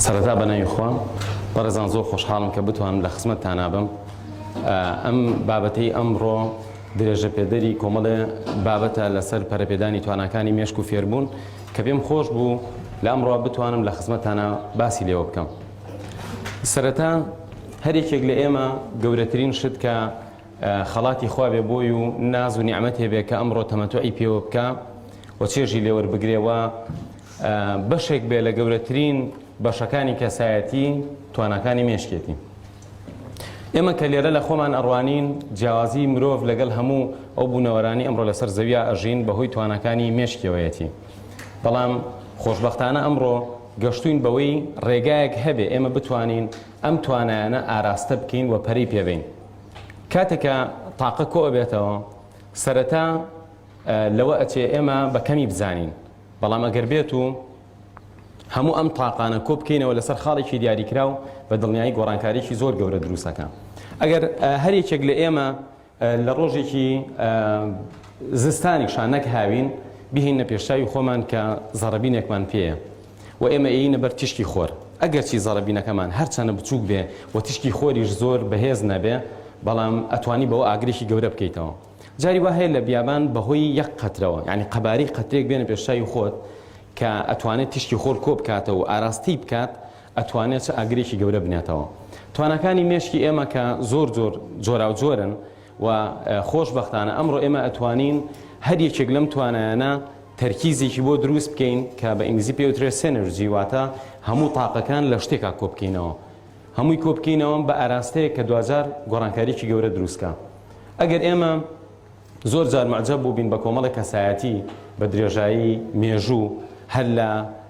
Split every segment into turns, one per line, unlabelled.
سەرەتا بە ناوی خۆم بەڕێزان زۆر خۆشحاڵم کە بتوانم لە خزمەتتانا بم ئەم بابەتەی ئەمڕۆ درێژە پێدەری کۆمەڵێ بابەتە لەسەر پەرەپێدانی تواناکانی مێشک و فێربوون کە پێم خۆش بوو لە ئەمڕۆ بتوانم لە خزمەتتانا باسی لێوە بکەم سەرەتا هەرێکێک لە ئێمە گەورەترین شت کە خەڵاتی خوا بێ بۆی و ناز و نیعمەتێ بێ کە ئەمڕۆ تەمەتوعی پێوە بکا و چێژی لێ وەربگرێ و بەشێک بێ لە گەورەترین بەشەکانی کەسایەتی تواناکانی مێشکێتی ئێمە کە لێرە لە خۆمان ئەڕوانین جیاوازی مرۆڤ لەگەڵ هەموو ئەو بوونەوەرانی ئەمڕۆ لەسەر زەویا ئەژین بەهۆی توانەکانی مێشکەوەیەتی بەڵام خۆشببختانە ئەمڕۆ گەشتوین بەوەی ڕێگایەک هەبێ ئێمە بتوانین ئەم توانایانە ئاراستە بکەین و پەری پێبین کاتێک کە تاقە کۆ ئەبێتەوە سەرەتا لەوە ئەچێ ئێمە بە کەمی بزانین بەڵام ئەگەر بێت و هەموو ئەم تاقانە کۆ بکەینەوە لەسەر خاڵێکی دیاریکراو بە دڵنیایی گۆڕانکاریی زۆر گەورە دروستەکە ئەگەر هەر یەکێک لە ئێمە لە ڕۆژێکی زستانی شانەک هاوین بهینە پێشاوی خۆمان کە زەڕبینێکمان پێەیە و ئێمە ئێینە بەر تیشکی خۆر، ئەگەرچی زەڕەبینەکەمان هەر چەنە بچووک بێ و تیشکی خۆریش زۆر بەهێز نەبێ، بەڵام ئەتوانی بەوە ئاگرێکی گەورە بکەیتەوە. جاری وا هەیە لە بیابان بە هۆی یەک قەترەوە، یانی قەبارەی قەترێک بێنە پێش چاوی خۆت کە ئەتوانێ تیشکی خۆر کۆ بکاتەوە و ئاراستەی بکات، ئەتوانێ چ ئاگرێکی گەورە بنێتەوە. تواناکانی مێشکی ئێمە کە زۆر جۆر جۆراوجۆرن، و خۆش بەختانە ئەمڕۆ ئێمە ئەتوانین هەر یەکێک لەم توانایانە تەرکیزێکی بۆ دروست بکەین کە بە ئینگلیزی پێی وترێت سێنرجی واتە هەموو تاقەکان لە شتێکا کۆبکەینەوە هەمووی کۆبکەینەوە بە ئاراستەیە کە دوجار گۆڕانکاریی گەورە دروستکە ئەگەر ئێمە زۆر جار معجب بووبین بە کۆمەڵی کەسایەتی بە درێژایی مێژوو هەر لە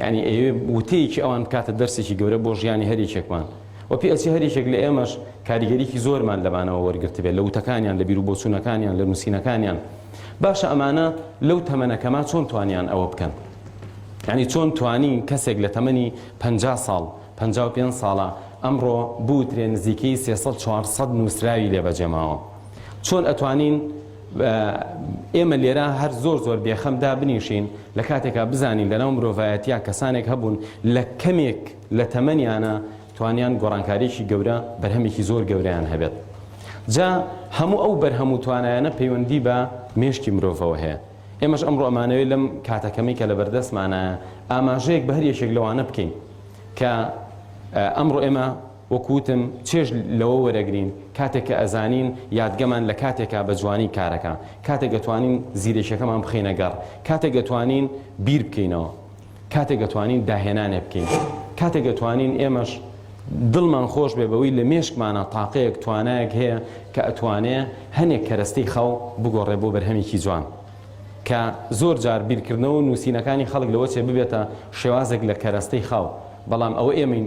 یانی ئەیەوێ وتەیەکی ئەوان بکاتە دەرسێکی گەورە بۆ ژیانی هەر یەکێکمان و پێ ئەچێ هەر یەکێک لە ئێمەش کاریگەریی زۆرمان لەمانەوە وەرگرتبێت لە وتەکانیان لە بیروبۆچوونەکانیان لە نووسینەکانیان باشە ئەمانە لەو تەمەنە کەما چۆن توانیان ئەوە بکەن یعنی چۆن توانی کەسێک لە تەمەنی پ ساڵ پ پێ ساڵە ئەمڕۆ بوترێ نزیکەی سێ سەد چوار سەد نووسراوی لێ بەجێماوە چۆن ئەتوانین ئێمە لێرە هەر زۆر زۆر بێخەم دابنیشین لە کاتێکا بزانین لەناو مرۆڤایەتیا کەسانێک هەبوون لە کەمێک لە تەمەنیانە توانیان گۆڕانکاریێکی گەورە بەرهەمێکی زۆر گەوریان هەبێت جا هەموو ئەو بەرهەم و توانایانە پەیوەندی بە مێشکی مرۆڤەوە هەیە ئێمەش ئەمڕۆ ئەمانەوەی لەم کاتەکەمی کە لە بەردەستمانە ئاماژەیەک بە هەر یەکێک لەوانە بکەین کە ئەمڕۆ ئێمە وەک وتم چێژ لەوە وەرەگرین کاتێک کە ئەزانین یادگەمان لە کاتێکە بە جوانی کارەکە، کاتێک ئەتوانین زیرەکیەکەمان بخەینە گەڕ، کاتێک ئەتوانین بیر بکەینەوە، کاتێک ئەتوانین داهێنانێ بکەین، کاتێک ئەتوانین ئێمەش دڵمان خۆش بێ بەوەی لە مێشکمانا تاقەیەک توانایەک هەیە کە ئەتوانێ هەنێ کەرەستەی خاو بگۆڕێ بۆ بەرهەمێکی جوان کە زۆر جار بیرکردنەوە و نووسینەکانی خەڵک لەوە چێ ببێتە شێوازێک لە کەرەستەی خاو بەڵام ئەوە ئێمەین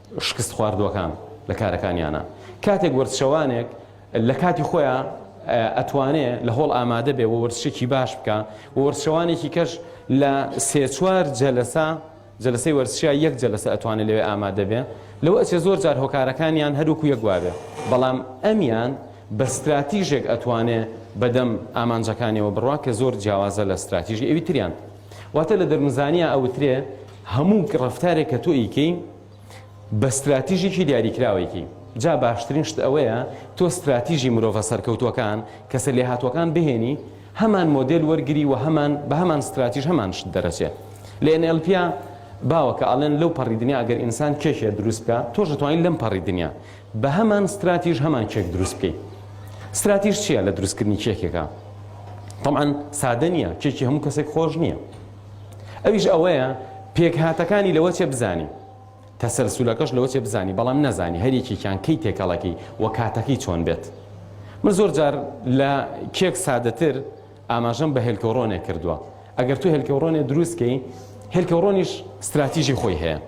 شکستخواردوەکان لە کارەکانیانا کاتێک وەرزشەوانێک لە کاتی خۆیان ئەتوانێ لە هۆڵ ئامادە بێ و وەرزشێکی باش بکە و وەرزشەوانێکی کەش لە سێ چوار جەلەسە جلسەی وەرسیا یەک جلسە ئەتوانێت لەوێ ئامادەبێ لەوە ئەچێ زۆر جار هۆکارەکانیان هەروکو یەکواێ بەڵام ئەمیان بە استراتیژێک ئەتوانێ بەدەم ئامانجەکانیەوە بڕوا کە زۆر جیاوازە لە استراتیژی ئەوی تریان واتە لە دەرونزانیا ئەوترێ هەموو ڕفتارێک کە تۆ ئیکەی بە ستراتیژێکی دیاریکراوەیەکی جا باشترین شت ئەوەیە تۆ ستراتیژی مرۆڤە سەرکەوتوەکان کەسە لێ هاتووەکان بهێنی هەمان مۆدل وەرگری و هەمان بە هەمان ستراتیژ هەمان شت دەرەچێ لە NLPیا باوەکە ئەڵێن لەو پەڕی دنیا ئەگەر ئینسان کێشێ دروست بکە تۆش توانین لەم پەڕی دنیا بە هەمان ستراتیژ هەمان کێک دروست بکەین ستراتیژ چییە لە دروستکردنی کێکێکە طبعا سادە نییە کێکی هەموو کەسێک خۆش نییە ئەویش ئەوەیە پێکهاتەکانی لەوە چێ بزانین تەسەلسولەکەش لەوە چێ بزانی بەڵام نەزانی هەریەکیان کەی تێکەڵەکەی وە کاتەکەی چۆن بێت من زۆر جار لە کێک سادەتر ئاماژەم بە هێلکەوڕۆنێک کردووە، ئەگەر تۆ هێلکەوڕۆنێ دروست کەی، هێلکەوڕۆنیش ستراتیژی خۆی هەیە.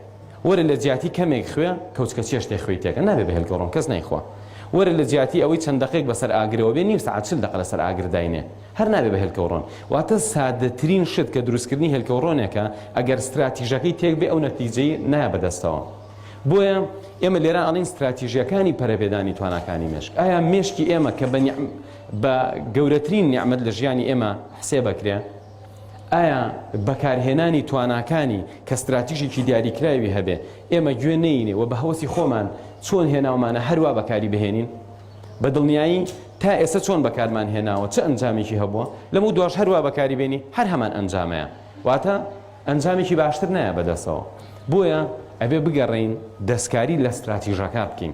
وەرە لە جیاتی کەمێک خوێ، کەوچکە چێشتێک خوێی تێکە، نابێ بە هێلکەوڕۆن کەس نایخوا. وەرە لە جیاتی ئەوەی چەند دەقێک بە سەر ئاگرەوە بێ، نیو سەعات چل دەقە لە سەر ئاگر داینێ، هەر نابێ بە هێلکەوڕۆن. واتە سادەترین شت کە دروستکردنی هێلکەوڕۆنێکە، ئەگەر ستراتیژەکەی تێک بێ ئەو نەتیجەی نایە بە دەستەوە. بۆیە ئێمە لێرە ئەڵێین ستراتیژییەکانی پەرەپێدانی تواناکانی مێشک. ئایا مێشکی ئێمە کە بە بە گەورەترین نیعمەت لە ژیانی ئێمە حسێبەکرێ؟ ئایا بەکارهێنانی تواناکانی کە ستراتیژێکی دیاریکراوی هەبێ ئێمە گوێ نەینێ و بە هەوەسی خۆمان چۆن هێناومانە هەروا بەکاری بهێنین؟ بە دڵنیایی تا ئێستا چۆن بەکارمان هێناوە چ ئەنجامێکی هەبووە؟ لەمەو دواش هەروا بەکاری بێنی هەر هەمان ئەنجامەیە واتە ئەنجامێکی باشتر نایە بەدەستەوە بۆیە ئەبێ بگەڕێین دەستکاری لە ستراتیژەکە بکەین.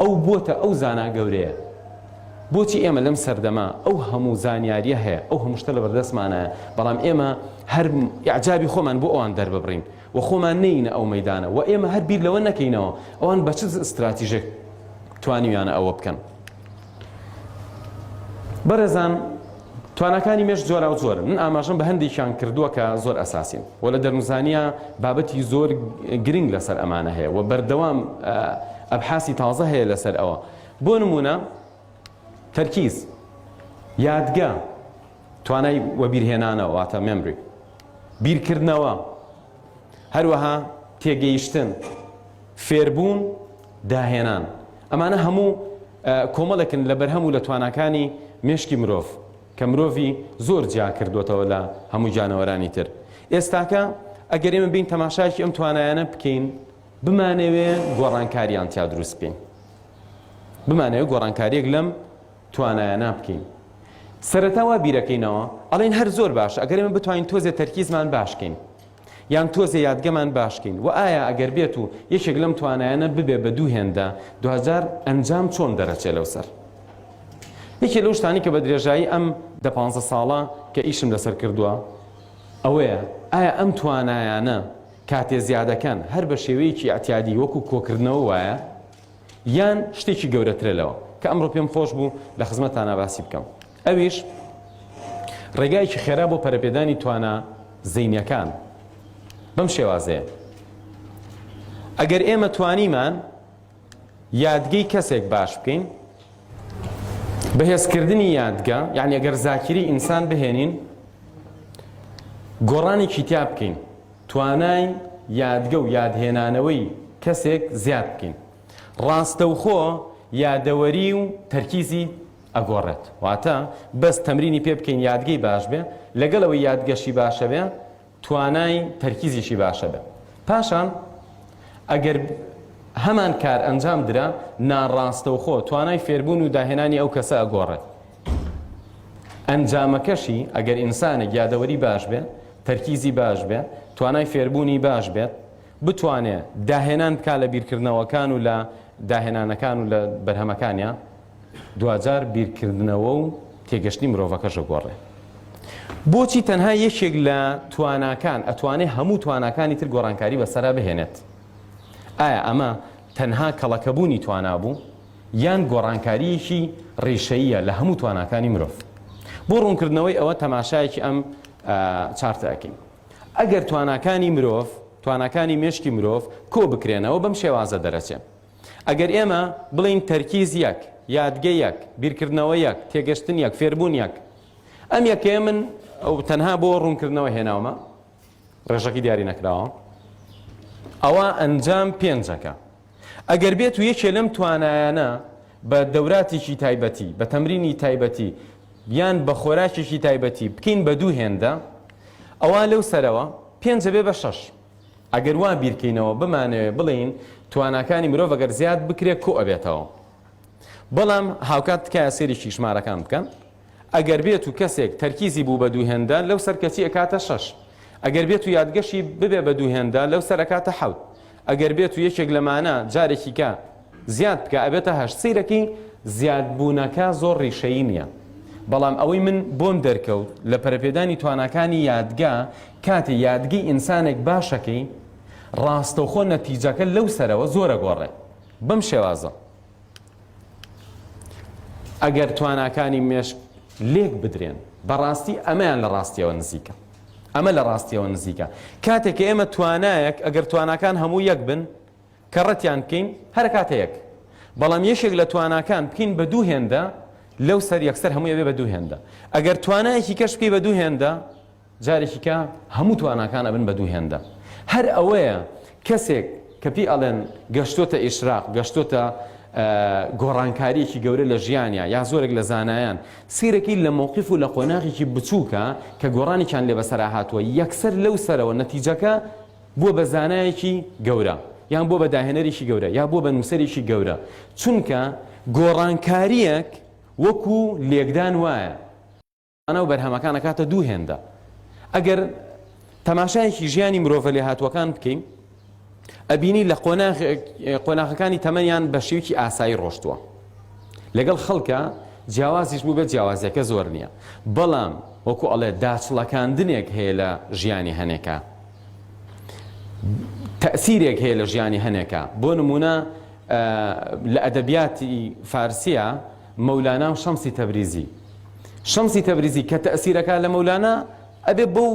ئەو بۆتە ئەو زانا گەورەیە. بۆچی ئێمە لەم سەردەمە ئەو هەموو زانیاریە هەیە، ئەو هەموو شتە لەبەردەستمانایە، بەڵام ئێمە هەر ئیعجابی خۆمان بۆ ئەوان دەرببڕین و خۆمان نێینە ئەو مەیدانە و ئێمە هەر بیر لەوە نەکەینەوە ئەوان بە چ ستراتیژێک توانیویانە ئەوە بکەن. بەڕێزان توانەکانی مێش جۆرا و جۆرن من ئاماژم بە هەندێکیان کردووە کە زۆر ئەساسین و لە دەرمزانیا بابەتی زۆر گرنگ لەسەر ئەمانە هەیە و بەردەوام ئەبحاسی تازە هەیە لەسەر ئەوە بۆ نمونە تەرکیز یادگە توانای وەبیرهێنانەوە واتە مێمری بیرکردنەوە هەروەها تێگەیشتن، فێربوون، داهێنان، ئەمانە هەموو کۆمەڵێکن لە بەرهەم و لە تواناکانی مێشکی مرۆڤ کە مرۆڤی زۆر جیا کردۆتەوە لە هەموو گیانەوەرانی تر. ئێستاکە ئەگەر ئێمە بێین تەماشایەکی ئەم توانایانە بکەین، بمانەوێ گۆڕانکاریان تیا دروست بکەین، بمانەوێ گۆڕانکاریەک لەم توانایانە بکەین سەرەتا وا بیرەکەینەوە ئەڵێن هەر زۆر باشە ئەگەر ئێمە بتوانین تۆزێ تەرکیزمان باشکەین یان تۆزێ یادگەمان باشکەین و ئایا ئەگەر بێت و یەکێک لەم توانایانە ببێ بە دوو هێندە دوجار ئەنجام چۆن دەرەچێ لەو سەر یەکێ لەو شتانی کە بە درێژایی ئەم دە پ ساڵە کە ئیشم لەسەر کردووە ئەوەیە ئایا ئەم توانایانە کاتێ زیادەکەن هەر بە شێوەیەکی ئەتیادی وەکو کۆکردنەوە وایە یان شتێکی گەورەترە لەوە کە ئەمڕۆ پێم خۆش بوو لە خزمەتانا باسی بکەم ئەویش ڕێگایەکی خێرا بۆ پەرەپێدانی توانا زینەکان بەم شێوازەیە ئەگەر ئێمە توانیمان یادگەی کەسێک باش بکەین بەهێزکردنی یادگە یعنی ئەگەر زاکیری ئینسان بهێنین گۆڕانێکی تیا بکەین توانای یادگە و یادهێنانەوەی کەسێک زیاد بکەین ڕاستەوخۆ یادەوەری و تەرکیزی ئەگۆڕێت واتە بەس تەمرینی پێ بکەین یادگەی باش بێ لەگەڵەوەی یادگەشی باشە بێ توانای تەرکیزیشی باشە بێ پاشان ئەگەر هەمان کار ئەنجام درا ناڕاستەوخۆ توانای فێربوون و داهێنانی ئەو کەسە ئەگۆڕێت ئەنجامەکەشی ئەگەر ئینسانێک یادەوەری باش بێ تەرکیزی باش بێ توانای فێربوونی باش بێت بتوانێ داهێنان بک لە بیرکردنەوەکان و لە داهێنانەکان و لە بەرهەمەکانیان دوجار بیرکردنەوە و تێگەشتنی مرۆڤەکەشە گۆڕێ بۆچی تەنها یەکێک لە تواناکان ئەتوانێ هەموو تواناکانی تر گۆڕانکاری بەسرا بهێنێت ئایا ئەمە تەنها کەڵەکەبوونی توانابوو یان گۆڕانکارییەکی ڕیشەییە لە هەموو تواناکانی مرۆڤ. بۆ ڕوونکردنەوەی ئەوە تەماشایەکی ئەم چارتە ئەکەین. ئەگەر تواناکانی مرۆڤ، تواناکانی مێشکی مرۆڤ کۆ بکرێنەوە بەم شێوازە دەرەچێ. ئەگەر ئێمە بڵێین تەرکیز یەک، یادگە یەک، بیرکردنەوە یەک، تێگەشتن یەک، فێربوون یەک. ئەم یەکەیە من تەنها بۆ ڕوونکردنەوە هێناومە. ڕێژەکی دیاری نەکراوە ئەوا ئەنجام پێنجەکە ئەگەر بێت و یەکێ لەم توانایانە بە دەوراتێکی تایبەتی بە تەمرینی تایبەتی یان بە خۆراکێکی تایبەتی بکەین بە دوو هێندە ئەوە لەو سەرەوە پێنجە بێ بە شەش ئەگەر وا بیرکەینەوە بمانەوێ بڵین تواناکانی مرۆڤ ئەگەر زیاد بکرێت کۆ ئەبێتەوە بەڵام هاوکات تکایە سێریی ژمارەکان بکەن ئەگەر بێتو کەسێک تەرکیزی بوو بە دوو هێندە لەو سەر کەچی ئەکاتە شەش ئەگەر بێتو یادگەشی ببێ بە دوو هێندە لەو سەر ئەکاتە حەوت ئەگەر بێتو یەکێک لەمانە جارێکیکە زیاد بکا ئەبێتە هەشت سەیرەکەی زیادبوونەکە زۆر ڕیشەیی نیە بەڵام ئەوەی من بۆم دەرکەوت لە پەرەپێدانی تواناکانی یادگە کاتێ یادگی ئینسانێک باشەکەی ڕاستەوخۆ نەتیجەکە لەو سەرەوە زۆر ئەگۆڕێ بەم شێوازە. ئەگەر تواناکانی مێشک لێک بدرێن بەڕاستی ئەمەیان لە ڕاستیەوە نزیکە ئەمە لە ڕاستیەوە نزیکە کاتێک ئێمە توانایەک ئەگەر تواناکان هەموو یەک بن کە ڕەتیان بکەین هەر کاتە یەک بەڵام یەشێک لە تواناکان بکەین بە دوو هێندە لەو سەر یەکسەر هەموو ئەوێ بە دوو هێندە ئەگەر توانایەکی کەش بکەی بە دوو هێندە جارێکی کە هەموو تواناکان ئەبن بە دوو هێندە هەر ئەوەیە کەسێک کە پێی ئەڵێن گەشتۆتە ئیشراق گەشتۆتە گۆڕانکاریەکی گەورە لە ژیانیا یا زۆرێک لە زانایان سیرەکەی لە مووقف و لە قۆناغێکی بچووکە کە گۆڕانێکیان لێ بەسەرا هاتووە یەکسەر لەو سەرەوە نەتیجەکە بووە بە زانایەکی گەورە یان بۆ بە داهێنەرێکی گەورە یا بۆ بە نووسەرێکی گەورە چونکە گۆڕانکاریەک وەکو لێکدان وایە و بەرهەمەکان ئەکاتە دوو هێندە. ئەگەر تەماشایەکی ژیانی مرۆڤە لێهاتووەکان بکەین، ئەبینی لە قۆناغەکانی تەمەنیان بە شێوکی ئاسایی ڕۆشتووە. لەگەڵ خەڵکە جیاوازیش بوو بێت جیاوازیەکە زۆر نییە. بەڵام وەکو ئەڵێ داچڵەکاندنێک هەیە لە ژیانی هەنێکە. تەسیرێک هەیە لە ژیانی هەنێکە بۆ نمونە لە ئەدەبیاتی فارسیە، مەولانا و شەمسی تەبریزی شەمسی تەبریزی کە تەئسیرەکا لە مەولانا ئەبێ بەو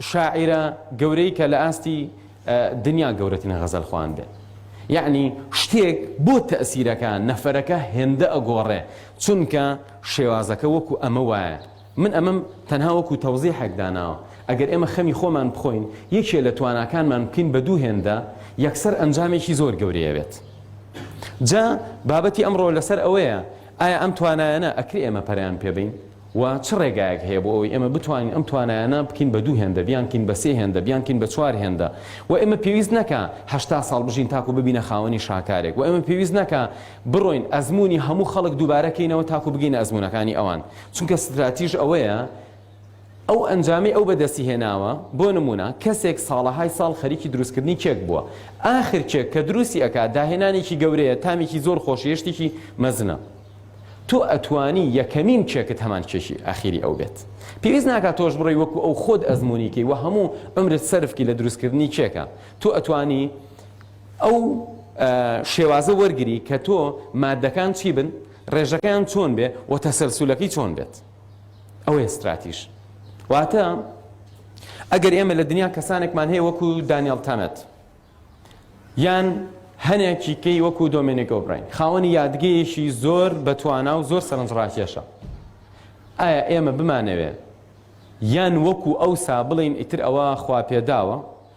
شاعیرە گەورەی کە لە ئاستی دنیا گەورەترین غەزەل خوان بێ یعنی شتێک بۆ تەئسیرەکە نەفەرەکە هێندە ئەگۆڕێ چونکە شێوازەکە وەکو ئەمە وایە من ئەمەم تەنها وەکو تەوزیحێک داناوە، ئەگەر ئێمە خەمی خۆمان بخۆین، یەکێ لە تواناکانمان بکەین بە دوو هێندە، یەکسەر ئەنجامێکی زۆر گەورەی ئەبێت. جا بابەتی ئەمڕۆ لەسەر ئەوەیە، ئایا ئەم توانایانە ئەکرێ ئێمە پەرەیان پێ بەین؟ و چ ڕێگایەک هەیە بۆ ئەوەی ئێمە بتوانین ئەم توانایانە بکەین بە دوو هێندە، بیانکەین بە سێ هێندە، بیانکەین بە چوار هێندە؟ و ئێمە پێویست نەکا هەشتا ساڵ بژین تاکو ببینە خاوەنی شاکارێک، و ئێمە پێویست نەکا، بڕۆین ئەزموونی هەموو خەڵک دووبارە کەینەوە تاکو بگەینە ئەزموونەکانی ئەوان، چونکە ستراتیژ ئەوەیە ئەو ئەنجامەی ئەو بەدەستی هێناوە، بۆ نموونە کەسێک ساڵەهای ساڵ خەریکی دروستکردنی کێک بووە، ئاخر کێک کە دروستی ئەکات داهێنانێکی گەورەیە، تامێکی زۆر خۆشە، هێشتێکی مەزنە. تۆ ئەتوانی یەکەمین کێکت هەمان کێکی ئاخیری ئەو بێت. پێویست ناکات تۆش بڕۆی وەکو ئەو خۆت ئەزموونی کەی و هەموو عومرت سەرف کەی لە دروستکردنی کێکا. تۆ ئەتوانی. ئەو شێوازە وەرگری کە تۆ مادەکان چی بن، ڕێژەکەیان چۆن بێ و تەسەلسولەکەی چۆن بێت. ئەوەیە ستراتیژ. واتە ئەگەر ئێمە لە دنیا کەسانێکمان هەیە وەکو دانیێل تەنەت یان هەنێکی کەی وەکو دۆمێنێک ئۆبراین خاوەنی یادگەیەکی زۆر بەتوانا و زۆر سەرنجڕاکێشە. ئایا ئێمە بمانەوێ یان وەکو ئەو سا بڵین ئیتر ئەوە خوا پێداوە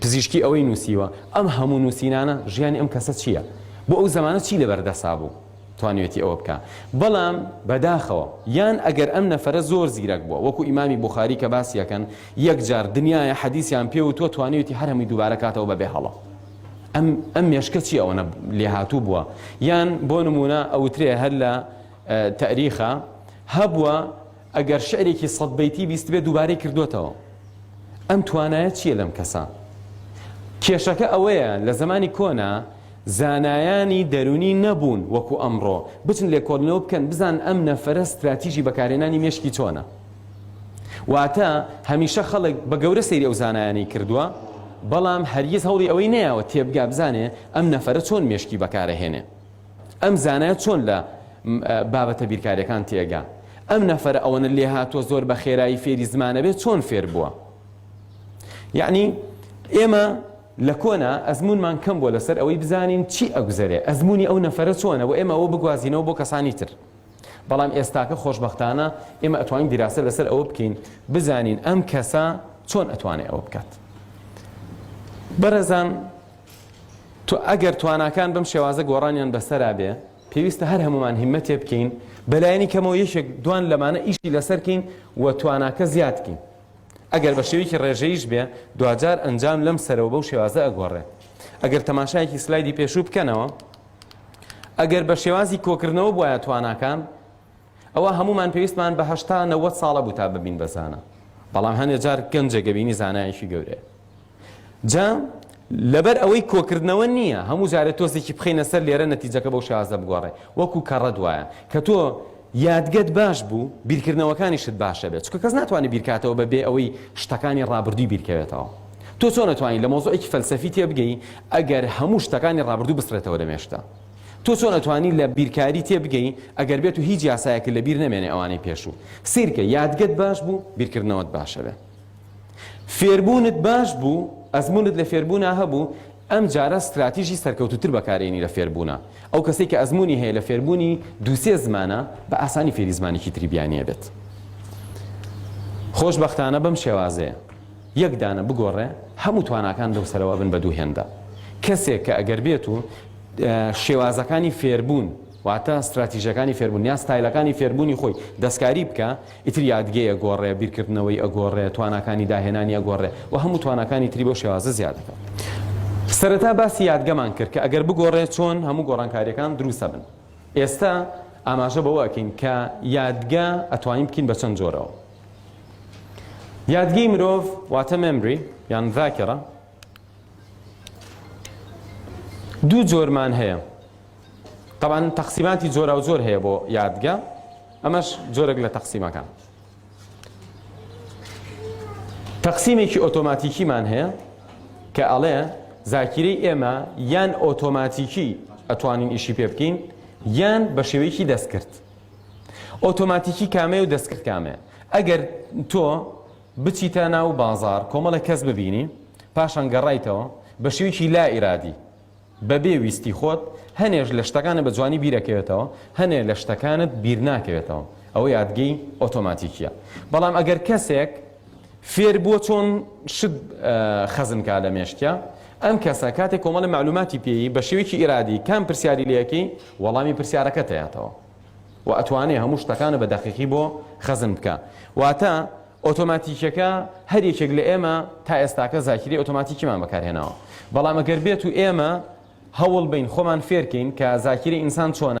پزیشکی ئەوەی نووسیوە، ئەم هەموو نووسینانە ژیانی ئەم کەسە چییە؟ بۆ ئەو زەمانە چی لەبەر دەسا بوو توانیوێتی ئەوە بکا؟ بەڵام بەداخەوە یان ئەگەر ئەم نەفەرە زۆر زیرەک بووە وەکو ئیمامی بوخاری کە باسی ئەکەن یەک جار دنیایە حەدیسیان پێ وتووە توانیوێتی هەر هەمووی دووبارە کاتەوە بەبێ هەڵە ئەم ئەم مێشکە چی ئەوەنە لێهاتوو بووە یان بۆ نمونە ئەوترێ هەر لە تەریخە هەبووە ئەگەر شعرێکی سەد بەیتی بیستبێ دووبارەی کردۆتەوە ئەم توانایە چیە لەم کەسە؟ کێشەکە ئەوەیە لە زەمانی کۆنا زانایانی دەرونی نەبوون وەکو ئەمڕۆ بچن لێکۆڵینەوە بکەن بزان ئەم نەفرە ستراتیژی بەکارێنانی مێشکی چۆنە واتە هەمیشە خەڵک بە گەورە سەیری ئەو زانایانی کردووە بەڵام هەرگیز هەوڵی ئەوەی نەیەوە تێبگا بزانێ ئەم نەفرە چۆن مێشکی بەکارەهێنێ ئەم زانایە چۆن لە بابەتە بیرکاریەکان تێگا ئەم نەفرە ئەوەنە لێ هاتووە زۆر بە خێرایی فێری زمانەبێ چۆن فێر بووە یعنی ئێمە لە کۆنا ئەزمونمان کەم بووە لەسەر ئەوەی بزانین چی ئەگوزەرێ ئەزمموی ئەو نەفرە چۆنە و ئێمە ئەوە بگوازینەوە بۆ کەسانی تر بەڵام ئێستاکە خۆشببختانە ئێمە ئەتوانین دیراسە لەسەر ئەوە بکەین بزانین ئەم کەسە چۆن ئەتوانێت ئەوە بکات بەرەزان تۆ ئەگەر تواناکان بەم شێوازە گۆڕانیان بەسەرا بێ پێویستە هەر هەمومان هیمەتێ بکەین بەلایەنی کەمەوە یەکێک دوان لەمانە ئیشی لەسەرکەین و تواناکە زیادکەین ئەگەر بە شێویکی ڕێژەیش بێ دواجار ئەنجام لەم سەرەوە بەو شێوازە ئەگۆڕێ ئەگەر تەماشایەکی سلایدی پێشوو بکەنەوە ئەگەر بە شێوازی کۆکردنەوە بواە تواناکان ئەوە هەمومان پێویستمان بە هەشتا نەوە ساڵە بوو تا ببین بەزانە بەڵام هەندێک جار گەنجێک گەبینی زانایەکی گەورەیە جا لەبەر ئەوەی کۆکردنەوە نییە هەموو جارێ تۆزێکی بخینە سەر لێرە نەتیجەکە بەو شازە بگۆڕێ وەکو کەڕەت وایە کە تۆ یادگەت باش بوو بیرکردنەوەکانیشت باشە بێت چکە کەس ناتوانێت بیرکاتەوە بە بێ ئەوەی شتەکانی ڕابردووی بیرکەوێتەوە تۆ چۆن نتوانین لە مۆزۆێکی فەلسەفی تێبگەی ئەگەر هەموو شتەکانی ڕابردوو بسرێتەوە لەمێشتا تۆ چۆن ئەتوانی لە بیرکاری تێبگەی ئەگەر بێت و هیچ یاسایەکە لە بیر نەمێنێ ئەوانەی پێشوو سیرکە یادگەت باش بوو بیرکردنەوەت باشە بێ فێربوونت باش بوو، ئەزموونت لە فێربوونا هەبوو، ئەم جارە ستراتیژی سەرکەوتووتر بەکارێنی لە فێربوونا. ئەو کەسەی کە ئەزموونی هەیە لە فێربوونی دوو سێ زمانە، بە ئاسانی فێری زمانێکی تری بیانییە بێت. خۆشبەختانە بەم شێوازەیە. یەک دانە بگۆڕێ، هەموو تواناکان لەو سەرەوە ئەبن بە دوو هێندە. کەسێک کە ئەگەر بێت و شێوازەکانی فێربوون، واتە ستراتیژەکانی فێربوون، یان ستایلەکانی فێربوونی خۆی دەستکاری بکا، ئیتر یادگەی ئەگۆڕێ، بیرکردنەوەی ئەگۆڕێ، تواناکانی داهێنانی ئەگۆڕێ و هەموو تواناکانی تری بەو شێوازە زیاد ئەکا. سەرەتا باسی یادگەمان کرد کە ئەگەر بگۆڕێ چۆن هەموو گۆڕانکارییەکان دروست ئەبن. ئێستە ئاماژە بەوە ئەکەین کە یادگە ئەتوانین بکەین بە چەند جۆرەوە. یادگەی مرۆڤ واتە مێمری یان ذاکرە دوو جۆرمان هەیە. تەبان تەقسیماتی جۆراوجۆر هەیە بۆ یادگە. ئەمەش جۆرێک لە تەقسیمەکان. تەقسیمێکی ئۆتۆماتیکیمان هەیە کە ئەڵێ زاکیرەی ئێمە یان ئۆتۆماتیکی ئەتوانین ئیشی پێ بکەین یان بە شێوەیەکی دەستکرد. ئۆتۆماتیکی کامێ و دەستکرد کامێ. ئەگەر تۆ بچیتە ناو بازار کۆمەڵە کەس ببینی پاشان گەڕایتەوە بە شێوەیەکی لا ئیرادی بەبێ ویستی خۆت هەنێ لە شتەکانت بە جوانی بیرەکەوێتەوە، هەنێ لە شتەکانت بیرناکەوێتەوە، ئەوە یادگەی ئۆتۆماتیکییە. بەڵام ئەگەر کەسێک فێربووە چۆن شت خەزن کا لە مێشکیا، ئەم کەسە کاتێک کۆمەڵە مەعلوماتی پێیی بە شێوەیەکی ئیرادی کام پرسیاری لێ ئەکەی، وەڵامی پرسیارەکەت ئەیاتەوە. و ئەتوانێ هەموو شتەکانە بە دەقیقی بۆ خەزن بکا واتە ئۆتۆماتیکیەکە هەر یەکێک لە ئێمە تا ئێستاکە زاکری ئۆتۆماتیکیمان بەکارهێناوە بەڵام ئەگەر بێت و ئێمە هەوڵ بین خۆمان فێرکەین کە زاکری ئینسان چۆنە